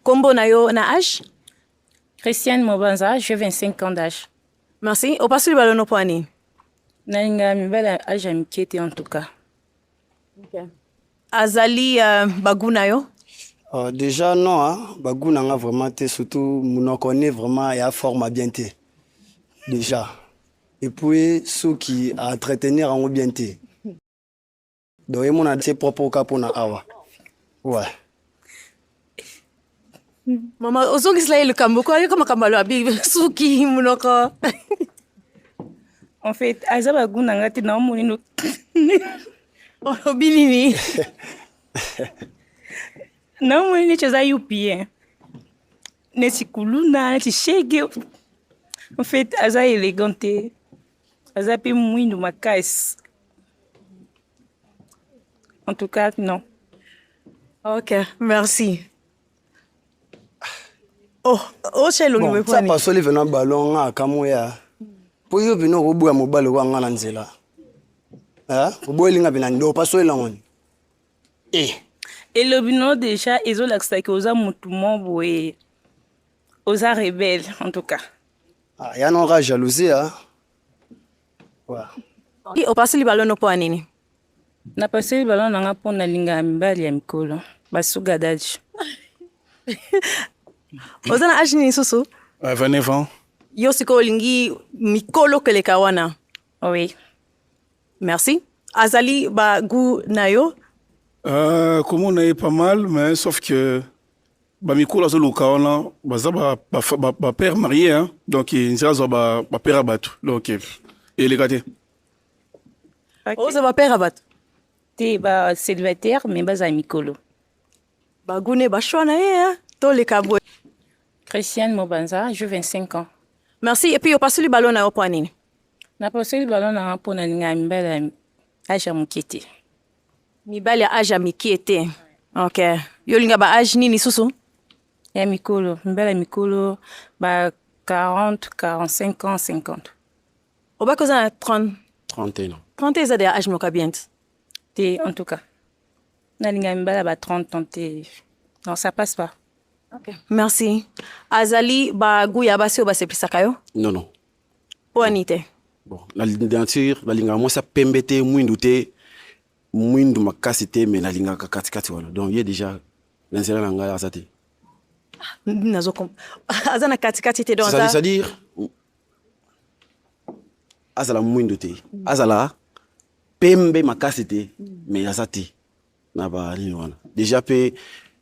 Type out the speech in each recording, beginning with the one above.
Kombo na yo na âge? Christiane Mobanza, j'ai 25 ans d'âge. Merci. Opasuli balono mpo ya nini? Nalinga mibali ya âge ya mike te en tout cas. Okay. Azali uh, bagu na yo? Uh, déjà non, hein? bagu na nga vraiment te surtout monoko ne vraiment ya forme bien te. Déjà. Et puis soki a entretenir yango bien te. Donc et mon c'est propre au capon à awa. Ouais. Maman, ozongisela ye likambo ko ayoka makambo alobi suki monoko en fait aza bagu na ngai te naomoni no olobi nini naomoni neti oza yupie neti kuluna neti shege en fait aza élégant te aza mpe mwindu makasi En tout cas, non. Ok, merci. Oh, oh, c'est le bon, ça passe le venant ballon à Kamoya. Pour yo bino ko boya mobali wa ngana nzela. Hein? Ko boya linga bina ndo passe le ngoni. Eh. Et le bino déjà ezo lakisa que oza mutu mo boye. Oza rebelle en tout cas. Ah, ya non ra jalousie hein. Opasuli balono mpo ya nini? Napasuli balono nanga mpo nalingaka mibali ya mikolo basuga daji. oza na age nini susu? 29 euh, ans. Yo sikoyo olingi mikolo keleka wana? Oui. Merci. Azali ba goût na yo? Euh, komona ye pas mal mais sauf que ba mikolo azo luka wana baza ba ba, ba, ba père marié hein donc nzela azwa ba ba père batu donc eleka te oza ba père batu te ba célibataire mais baza mikolo bagune bashwa na ye hein toleka boye Christiane Mobanza, je 25 ans. Merci. Et puis, opasuli balo na yo mpo nini? Napasuli balo na nga mpo na linga mbele ya Aja Mokete. Mibali ya age ya mikie te. Ok. Yo olinga ba age nini susu? Ya mikolo, mibali ya mikolo ba 40, 45 ans, 50. Obaki oza na 30 31 ans. 30 eza deya age moko ya bien te. Te en tout cas. Nalinga mibali ya ba 30 ans te. Non, ça passe pas. Ok. Merci. Azali ba gout ya basi oyo baseplisaka yo? Non, non. mpo ani te bon na nature nalingaka mwasi ya pembe te mwindu te mwindu makasi te me nalingaka katikati wana donc ye déjà na nzela na ngai aza te nazo aza na katikati te c'est-à-dire azala mwindu te azala pembe makasi te me aza te na ba nini wana deja mpe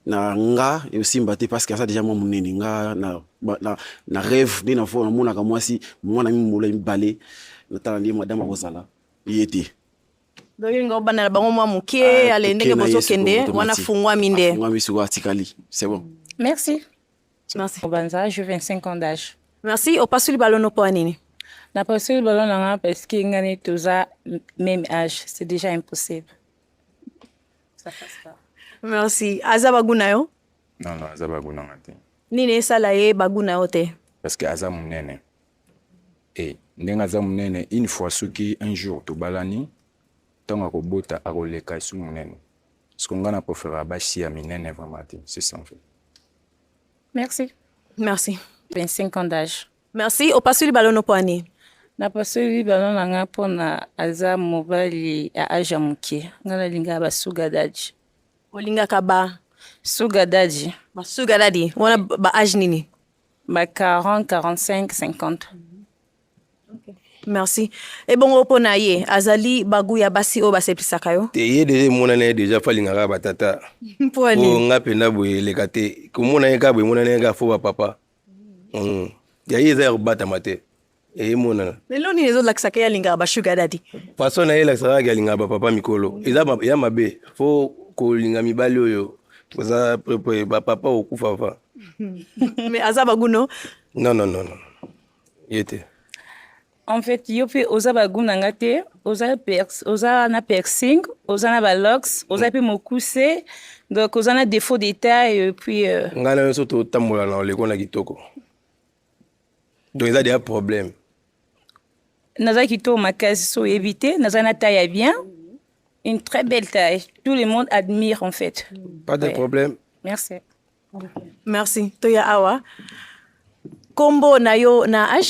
na nga esimba te parce que aza deja mwa monene nga na, na, na rêve nde na fo namonaka mwasi mwana mimolo mibale natala nde madame akozala ye te donc nga obanda na bango mwa moke ah, ale ndenge bozokende wana afungwami nde afungwami sikoyo atikali c'est bon merci merci obanza je 25 ans d'âge merci opasuli balono mpo ya nini napasuli balono na nga parce que nga neti toza même âge c'est déjà impossible merci aza bagu na yo non non aza bagu nanga te nini esala ye bagu na yo te parce que aza monene e eh, ndenge aza monene une fois soki un jour tobalani ntango akobota akoleka esu monene parceke ngai na preferaka basi ya minene vraiment te c'est sans fait merci merci 25 ans d'âge Merci. Opasoli balono poani. Napasoli bana na nga mpo na aza mobali ya age ya moke. Nga nalingaka ba sugar daddy. Olingaka ba sugar daddy? Ba sugar daddy wana ba age nini? Ba 40, 45, 50. Okay. merci ebongo mpo na ye azali bagu ya basi oyo baseplisaka yo te ye deja emonana ye deja fo alingaka batata mpo nga mpenza boye eleka te komona ye kaka boye emonana ye kaka fo bapapa ya ye eza ya kobatama te emonana lelo nini ezolakisaka ye alingaka bashuga dadi faso na ye elakisaka yake alingaka bapapa mikolo eza ya mabe fo kolinga mibali oyo oza prepe bapapa okufa fa me aza baguno non non non ye te En fait, yo pe oza ba goût na nga te, oza perx, oza na piercing, oza na ba locks, oza pe mokuse. Donc oza na défaut de taille et puis euh... nga na yo to tambola na oleko na kitoko. Donc eza déjà problème. Naza kitoko makasi so éviter, naza na taille bien. Une très belle taille. Tout le monde admire en fait. Pas de ouais. problème. Merci. Merci. Toya awa. Combo na yo na H